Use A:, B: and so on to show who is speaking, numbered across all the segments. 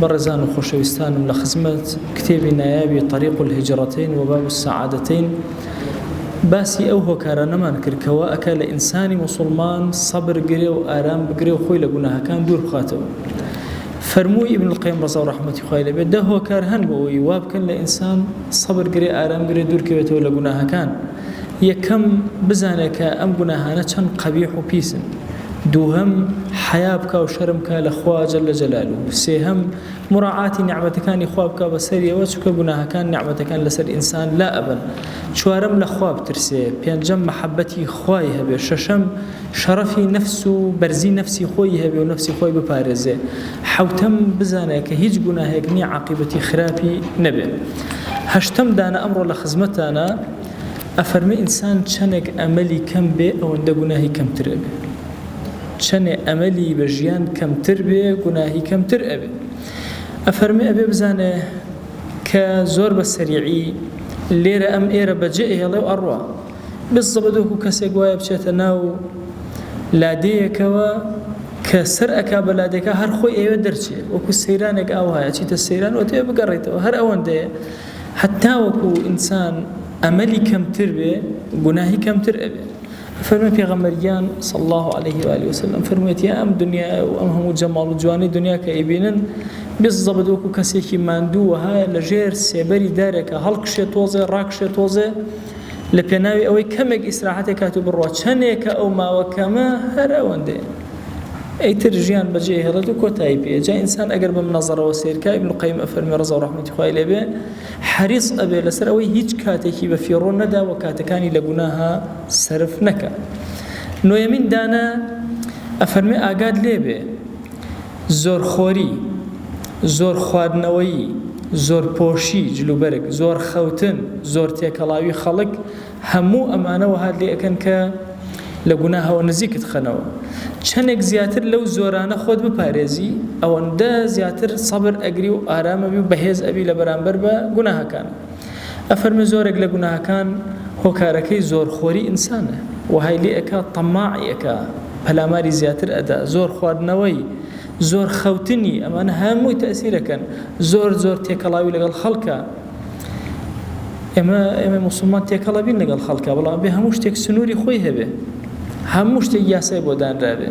A: بەڕێزان و خۆشەویستانم لە خزمەت کتێبی نایابی طریق الهجرتین و باب السعادتین باسی ئەو هۆکارانەمان کرد کەوا ئەکا لە ئینسانی مسلمان سەبر گرێ و ئارام بگرێ و خۆی لە گوناهەکان دوور بخاتەوە فەرمووی ابن القیم ڕزا و ڕحمەتی خوای لەبێت دە هۆکار هەن بۆ ئەوی وابکەن لە ئینسان سەبر گرێ ئارام گرێ دوورکەوێتەوە لە گوناهەکان یەکەم، بزانێ کە ئەم گوناهانە چەند قەبیح و پیسن. دووهەم، حەیا بکا و شەرم کا لە خوا جل جلالە. سێهەم، موراعاتی نیعمەتەکانی خوا بکا بە سەریەوە، چونکە گوناهەکان نیعمەتەکان لە سەر ئینسان لا ئەبەن. چوارەم، لە خوا بترسێ. پێنجەم، مەحەبەتی خوای هەبێ. شەشەم. شەڕەفی نەفس و بەرزی نەفسی خۆیی هەبێ و نەفسی خۆی بپارێزێ، حەوتەم، بزانێ کە هیچ گوناهێک نییە عاقیبەتی خراپی نەبێ. هەشتەم دانە ئەمڕۆ لە خزمەتتانە، ئەفەرمێ ئینسان چەنێک ئەمەلی کەم بێ ئەوەندە گوناهی کەمتر ئەبێ. چەنێ ئەمەلی بە ژیان کەمتر بێ گوناهی کەمتر ئەبێ. ئەفەرمێ ئەبێ بزانێ کە زۆر بە سەریعی لێرە ئەم ئێرە بەجێ ئەهێڵێ و ئەڕوا. بزڵت وەکو کەسێک وایە بچێتە ناو لادێیەکەوە کە سەر ئەکا بە لادێکە هەر خۆی ئەوێ دەرچێ وەکو سەیرانێک ئاوایە چیتە سەیران و تێ بگەڕێتەوە هەر ئەوەندەیە حتا وەکو ئینسان ئەمەلی کەمتر بێ گوناهی کەمتر ئەبێ فەرمی پێغەمبەرگیان صلی الله عليه و آله وسلم فەرموویەتی یا ئەم دنیا و ئەم هەموو جەماڵ و جوانی دنیا کە ئەیبینن بزەبت وەکو کەسێکی ماندوو وەهایە لە ژێر سێبەری دارێکە هەڵکشێ تۆزێ ڕاکشێ تۆزێ لە پێناوی ئەوەی کەمێک ئیسراحەتێ کات و بڕوا چەندێکە ئەو ماوە کەمە هەر ئەوەندەیە ئەیتر ژیان بەجێ هێڵێت و کۆتایی پێ جا ئینسان ئەگەر بەم نەزەرەوە سیرکە ابن قیم ئەفەرمی ڕزا و ڕەحمەتی خوای لێبێ حەریص ئەبێ لەسەر ئەوەی هیچ کاتێکی بە فیڕۆ نەدا و کاتەکانی لە گوناها سەرف نەکە نۆیەمین دانە ئەفەرمی ئاگات لێبێ زۆرخۆری، زۆر خواردنەوەیی، زۆرپۆشی، جلوبەرگ، زۆر خەوتن، زۆر تێکەڵاوی خەڵک هەموو ئەمانە وەهات لێ ئەکەن کە لە گوناهەوە نزیکت خەنەوە. چەنێک زیاتر لەو زۆرانە خۆت بپارێزی ئەوەندە زیاتر سەبر ئەگری و ئارام ئەبی و بەهێز ئەبی لە بەرامبەر بە گوناهەکان. ئەفەرمێ زۆرێک لە گوناهەکان هۆکارەکەی زۆر خۆری ئینسانە وەهای لێ ئەکا تەماعی ئەکا پەلاماری زیاتر ئەدا زۆر خواردنەوەی زۆر خەوتنی ئەمانە هەمووی تەئسیرەکەن زۆر زۆر تێکەڵاوی لەگەڵ خەڵکە ئێمە ئێمە مسلمان تێکەڵە بین لەگەڵ خەڵکە بەڵام بێ هەموو شتێک سنووری خۆی هەبێ هەموو شتێک یاسای بۆ دانراوێ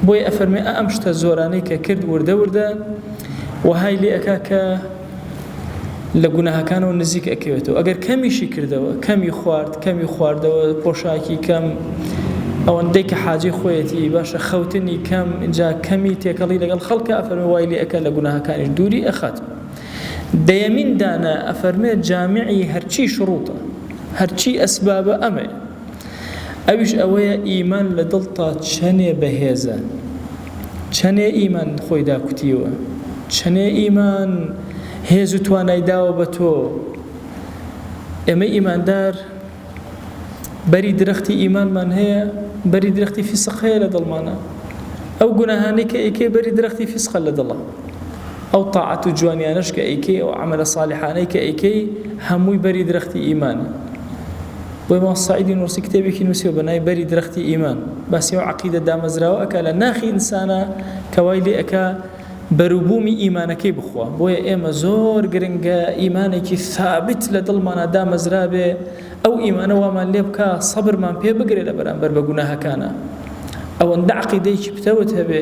A: بۆی ئەفەرمێ ئەم شتە زۆرانەی کە کرد وردە وردە وهای لێ ئەکا کە لە گوناهەکانەوە نزیک ئەکەوێتەوە ئەگەر کەمیشی کردەوە کەمی خوارد کەمی خواردەوە پۆشاکی کەم ئەوەندەی کە حاجی خۆیەتی باشە خەوتنی کەم جا کەمی تێکەڵی لەگەڵ خەڵکە ئەفەرمە وای لێ ئەەکە لە گوناهەکانیش دووری ئەخات دەیەمین دانە ئەفەرمێت جامیعی هەرچی شڕوتە هەرچی ئەسبابە ئەمەیە ئەویش ئەوەیە ئیمان لە دڵتا چەنێ بەهێزە چەنێ ئیمان خۆی داکوتیوە، چەنێ ئیمان هێز و توانای داوە بە تۆ. ئێمەی ئیماندار بەری درەختی ئیمانمان هەیە، بەری درەختی فیسق هەیە لە دڵمانا. ئەو گوناهانەی کە ئەیکەی بەری درەختی فیسقە لە دڵا. ئەو تاعەت و جوانیانەش کە ئەیکەی، ئەو عەمەلە ساڵحانەی کە ئەیکەی هەمووی بەری درەختی ئیمانە. بۆیە مام سەعیدی نووڕسی کتێبێکی نووسیوە بە ناوی بەری درەختی ئیمان باسی ئەو عەقیدە دامەزراوە ئەکا لە ناخی ئینسانا کە وای لێ ئەکا بەروبوومی ئیمانەکەی بخوا بۆیە ئێمە زۆر گرنگە ئیمانێکی ثابت لە دڵمانا دامەزرابێ ئەو ئیمانە وامان لێ بکا سەبرمان پێ بگرێ لە بەرامبەر بە گوناهەکانا ئەوەندە عەقیدەیەکی پتەوت هەبێ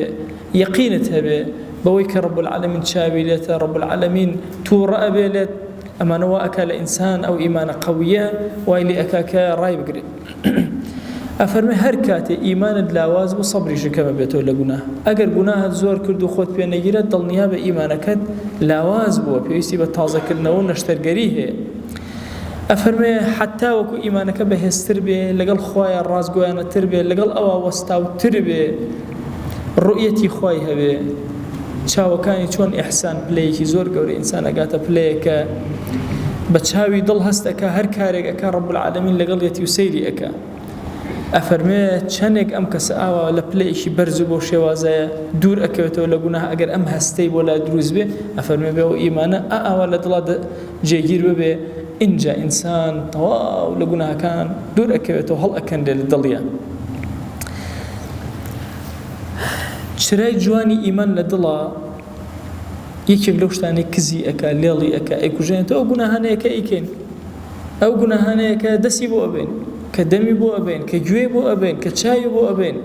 A: یەقینت هەبێ بەوەی کە رب العالمین چاوی لێتە رب العالمین تووڕە ئەبێ لێت ئەمانە وا ئەکا لە ئینسان ئەو ئیمانە قەویە وای لێ ئەکا کە ڕای بگرێ ئەفەرمێ هەر کاتێ ئیمانت لاواز بوو سەبریشت کەم ئەبێتەوە لە گوناه ئەگەر گوناهت زۆر کرد و خۆت پێ نەگیرا دڵنیا بە ئیمانەکەت لاواز بووە پێویستی بە تازە کردنەوە و نەشتەرگەری هەیە ئەفەرمێ حەتا وەکو ئیمانەکە بەهێزتر بێ لەگەڵ خوایە ڕاستگۆیانەتر بێ لەگەڵ ئەوە وەستاوتر بێ ڕوئیەتی خوای هەبێ چاوەکانی چۆن ئیحسان پلەیەکی زۆر گەورە ئینسان ئەگاتە پلەیەک کە بە چاوی دڵ هەست ئەکا هەر کارێک ئەکا ڕەب العالمین لەگەڵیەتی و سەیری ئەکا ئەفەرمێ چەندێک ئەم کەسە ئاوا لە پلەیەکی بەرز و بۆ شێوازەیە دوور ئەکەوێتەوە لە گوناه ئەگەر ئەم هەستەی بۆ لای دروست بێ ئەفەرمێ بێ و ئیمانە ئاوا لە دڵا جێگیر ببێ ئینجا ئینسان تەواو لە گوناهەکان دوور ئەکەوێتەوە هەڵ ئەکەندێ لە دڵیان چرای جوانی ئیمان لە دڵا یەکێک لەو شتانەی کزی ئەکا لێڵی ئەکا ئەیکوژێنێتەوە ئەو گوناهانەیە کە ئەیکەین ئەو گوناهانەیە کە دەسی بۆ ئەبەین کە دەمی بۆ ئەبەین کە گوێی بۆ ئەبەین کە چاوی بۆ ئەبەین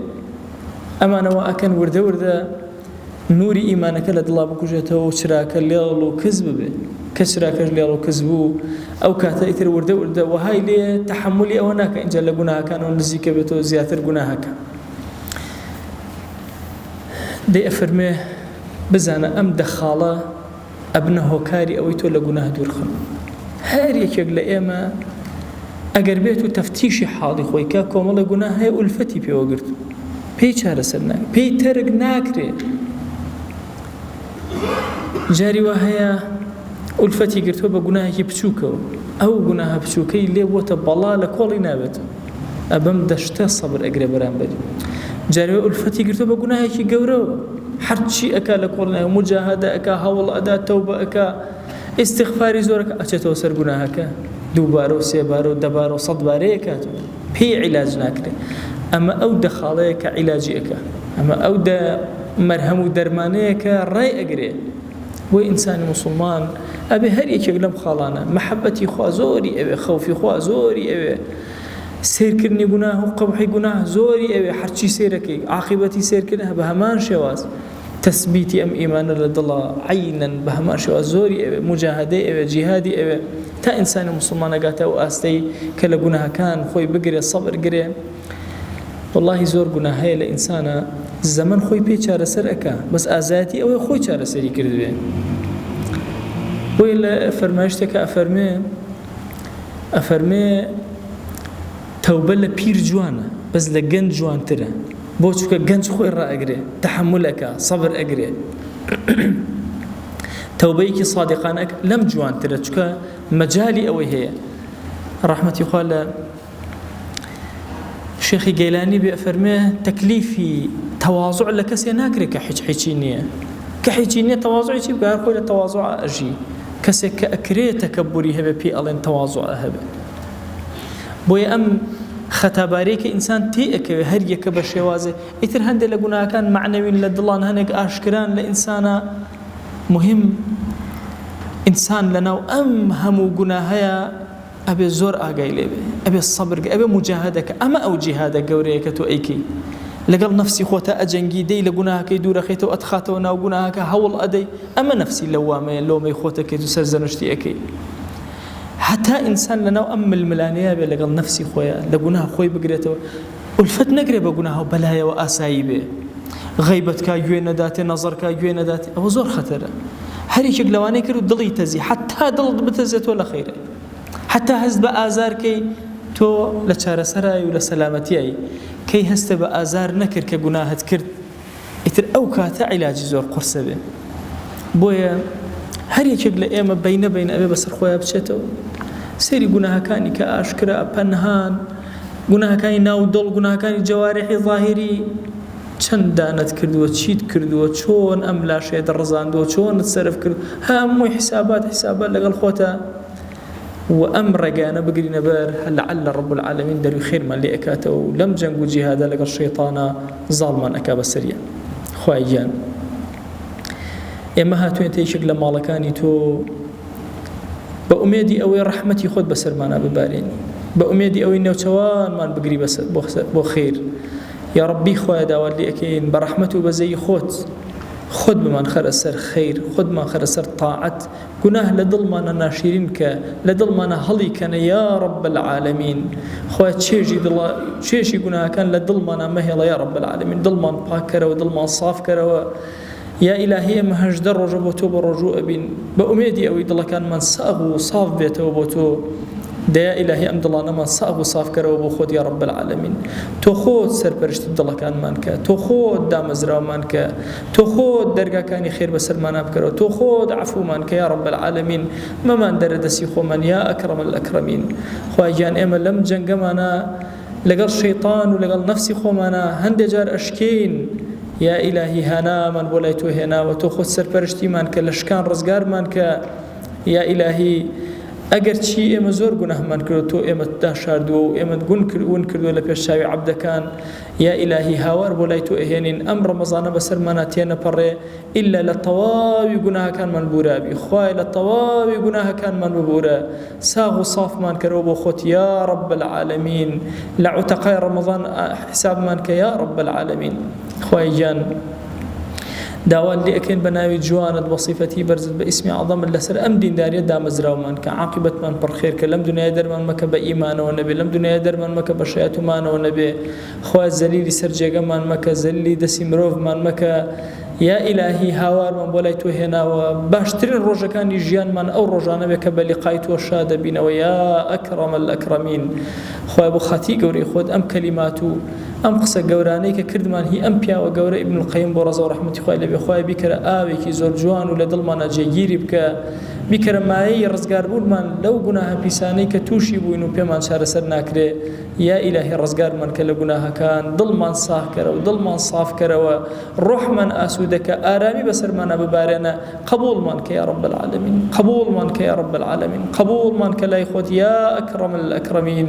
A: ئەمانە وا ئەکەن وردە وردە نوری ئیمانەکە لە دڵا بکوژێتەوە و چراکە لێڵ و کز ببێت کە چراکەش لێڵ و کز بوو ئەو کاتە ئیتر وردە وردە وەهای لێ تەحملی ئەوە ناکە ئینجا لە گوناهەکانەوە نزیکە بێتەوە زیاتر گوناهەکە دەیئەفەرموێ، بزانە ئەم دە خاڵە ئەبنە هۆکاری ئەوەی تۆ لە گوناه دوورخەن. هەر یەکێک لە ئێمە ئەگەر بێت و تەفتیشی حاڵی خۆی کا کۆمەڵێ گوناه هەیە ئولفەتی پێوە گرتووە، پێی چارەسەر ناکرێ، پێی تەرک ناکرێ. جاری وا هەیە ئولفەتی گرتووە بە گوناهێکی بچووکەوە، ئەو گوناهە بچووکەی لێ بووەتە بەڵا لە کۆڵی نابێتەوە، ئەبەم دەشتە سەبر ئەگرێ بەرامبەری، جاری وا ئولفەتی گرتووە بە گوناهێکی گەورەوە، هەرچی ئەکا لە کۆڵی نابێت، موجاهەدە ئەکا، هەوڵ ئەدا، تەوبە ئەکا، ئیستیغفاری زۆر ئەکا، ئەچێتەوە سەر گوناهەکە، دووبارە و سێبارە و دەبارە و سەدبارەی ئەکاتەوە. پێی عیلاج ناکرێ ئەمە ئەو دە خاڵەیە کە عیلاجی ئەکا ئەمە ئەو دە مەرهەم و دەرمانەیە کە ڕێ ئەگرێ بۆ ئینسانی مسلمان ئەبێ هەر یەکێک لەم خاڵانە محەبەتی خوا زۆری ئەوێ خەوفی خوا زۆری ئەوێ سێرکردنی گوناه و قەبحی گوناه زۆری ئەوێ حەرچی سێرەکەی عاقبەتی سێرکردن بە هەمان شێواز تەسبیتی ئەم ئیمانە لە دڵە عەینەن بە هەمان شێوە زۆری ئەوێ موجاهەدەی ئەوێ جیهادی ئەوێ تا ئینسانی موسڵمان نەگاتە ئەو ئاستەی کە لە گوناهەکان خۆی بگرێ سەبر گرێ واللهی زۆر گونا هەیە لە ئینسانە زەمن خۆی پێ چارەسەر ئەکا بەس ئازایەتی ئەوەی خۆی چارەسەری کردوێ بۆی لە فەرمایشتێکە ئەفەرمێ ئەفەرمێ تەوبە لە پیر جوانە بەس لە گەنج جوانترە بۆ چونکە گەنج خۆی ڕائەگرێ تەحەمول ئەکا سەبر ئەگرێ تەوبەیەکی صادقانە ئەک لەم جوانترە چونکە مەجالی ئەوەی هەیە ڕەحمەتی خوا لە شێخی گەیلانی بێ فەرمێ تەکلیفی تەوازع لە کەسێ ناکرێت کە حیچ حیچی نییە کە حیچی نییە تەوازعی چی بگار خۆی لە تەوازع ئەژی کەسێک کە ئەکرێت تەکەبوری هەبێ پێی ئەڵێن تەوازع هەبێت بۆیە ئەم خەتاباریە کە ئینسان تێ ئەکەوێ هەر یەکە بە شێوازێ ئیتر هەندێک لە گوناهەکان معنەوین لە دڵان هەنێک ئاشکران لە ئینسانە مهم ئینسان لەناو ئەم هەموو گوناهەیە ئەبێ زۆر ئاگای لێبێ ئەبێ سەبرگ ئەبێ مجاهدەکە ئەمە ئەو جیهادە گەورەیە کە تۆ ئەیکەی لەگەڵ نفسی خۆتە ئەجەنگی دەی لە گوناهەکەی دوورەخیتەوە ئەتخاتەوە ناو گوناهەکە هەوڵ ئەدەی ئەمە نفسی لەوامەیە لۆمەی خۆتەکەیت و سەرزەنشتی ئەەکەی هەتا ئینسان لەناو ئەم ململانێیە بێ لەگەڵ نەفسی خۆیا، لە گوناه خۆی بگرێتەوە، ئولفەت نەگرێ بە گوناه و بەلایەوە ئاسایی بێ، غەیبەت کا گوێ نەداتێ، نەزەر کا گوێ نەداتێ، ئەوە زۆر خەتەرە. هەر یەکێک لەوانەی کرد و دڵی تەزی، هەتا دڵت بتەزێ تۆ لە خەیرای، هەتا هەست بە ئازار کەی تۆ لە چارەسەرای و لە سەلامەتیای، کەی هەستێ بە ئازار نەکرد کە گوناهت کرد، ئیتر ئەو کاتە عیلاجی زۆر قورسە بێ بۆیە هەر یەکێک لە ئێمە بینە بین ئەبێ بەسەر خۆیان بچێتەوە سێری گوناهەکانی کە ئاشکرا پەنهان گوناهەکانی ناو دڵ گوناهەکانی جەوارحی ظاهری چەند دانت کردووە چیت کردووە چۆن ئەم لاشێ دەڕزاندووە چۆنت سرف کرد هەمووی حیسابات حیسابات لەگەڵ خۆتە و ئەم ڕێگایانە بگرینە بەر لەعەللە ڕەب العالمین دەروی خێرمان لێ ئەکاتەوە و لەم جەنگ و جیهادە لەگەڵ شەیتانە زاڵمان ئەکا بەسەریا خوایە گیان ئێمە هاتوێنتە یەکێک لە ماڵەکانی تۆ بە ئومێدی ئەوەی ڕەحمەتی خۆت بەسەرمانە ببارێنی بە ئومێدی ئەوەی نەوچەوانمان بگری بەسەر بۆ خیر یا ڕبی خۆیان داوات لەکەین بە ڕەحمەت و بەزەی خۆت خۆت بمان خەرە سەر خیر خۆتمان خەرە سەر تاعەت گوناه لە دڵمانە ناشیرین کە لە دڵمانە هەڵی کەنە یا رب العالمین خوایە چێژی دڵە چێژی گوناهەکان لە دڵمانە مەهێڵە یا رب العالمین دڵمان پاک کەرەوە دڵمان ساف کەرەوە یا ئیلاهی ئێمە هەژدە ڕۆژە بۆ تۆ بە ڕۆژوو ئەبین بە ئومێدی ئەوەی دڵەکانمان ساغ و ساف بێتەوە بۆ تۆ دەیا ئیلاهی ئەم دڵانەمان ساغ و سافکەرەوە بۆ خۆت یا رب العالمین تۆ خۆت سەرپەرشتی دڵەکانمان کە تۆ خۆت دامەزراومان کە تۆ خۆت دەرگاکانی خێر بەسەرمانا بکەرەوە تۆ خۆت عەفومان کە یا رب العالمین مەمان دەرە دەسی خۆمان یا اکرم الاکرمین خوای گیان ئێمە لەم جەنگەمانە لەگەڵ شەیطان و لەگەڵ نەفسی خۆمانە هەندێ جار ئەشکین یا ئیلاهی هانامان بۆ لای تۆ هێناوە تۆ خۆت سەرپەرشتیمان کە لە شکان ڕزگارمان کە یا ئیلاهی ئەگەر چی ئێمە زۆر گوناهمان کردو تۆ ئێمە داشاردووە و ئێمە گون کردون کردووە لە پێش چاوی عبدەکان یا ئیلاهی هاوار بۆ لای تۆ ئەهێنین ئەم ڕەمەزانە بەسەرمانا تێنەپەڕێ ئیلا لە تەواوی گوناهەکانمان بورابی خوایە لە تەواوی گوناهەکانمان ببورە ساغ و سافمان کەرەوە بۆ خۆت یا رب العالمین لە عوتەقای ڕەمەزان حیسابمان کە یا رب العالمین خوایە گیان داوات لێ ئەکەین بە ناوی جوانت وە صیفەتی بەرزت بە ئیسمی عەظەمت لەسەر ئەم دینداریە دامەزراومان کە عاقیبەتمان پڕ خێر کە لەم دونیایە دەرمان مەکە بە ئیمانەوە نەبێ لەم دونیایە دەرمان مەکە بە شەیاتومانەوە نەبێ خوایە زەلیلی سەر جێگەمان مەکە زەلیلی دەسی مرۆڤمان مەکە یا ئیلاهی هاوارمان بۆ لای تۆ هێناوە باشترین ڕۆژەکانی ژیانمان ئەو ڕۆژانە بێ کە بە لقای تۆ شا دەبینەوە یا ئەکرەمە الئەکرەمین خوای بۆ خاتی گەورەی خۆت ئەم کەلیمات و ئەم قسە گەورانەی کە کردمان هی ئەم پیاوە گەورە ابن القیم بۆ ڕەزاو ڕەحمەتی خوای لێبێ خوایە بیکەرە ئاوێکی زۆر جوان و لە دڵمانا جێگیری بکە بیکەرە مایەی ڕزگاربوونمان لەو گوناهە پیسانەی کە تووشی بووین و پێمان چارەسەر ناکرێ یا ئیلاهی ڕزگارمان کە لە گوناهەکان دڵمان ساغکەرە و دڵمان سافکەرەوە ڕۆحمان ئاسوودەکە ئارامی بەسەرمانا ببارێنە قبوڵمان کە یا رب العالمین قبوڵمان کە یا رب العالمین قبوڵمان کە لای خۆت یا اکرم الاکرمین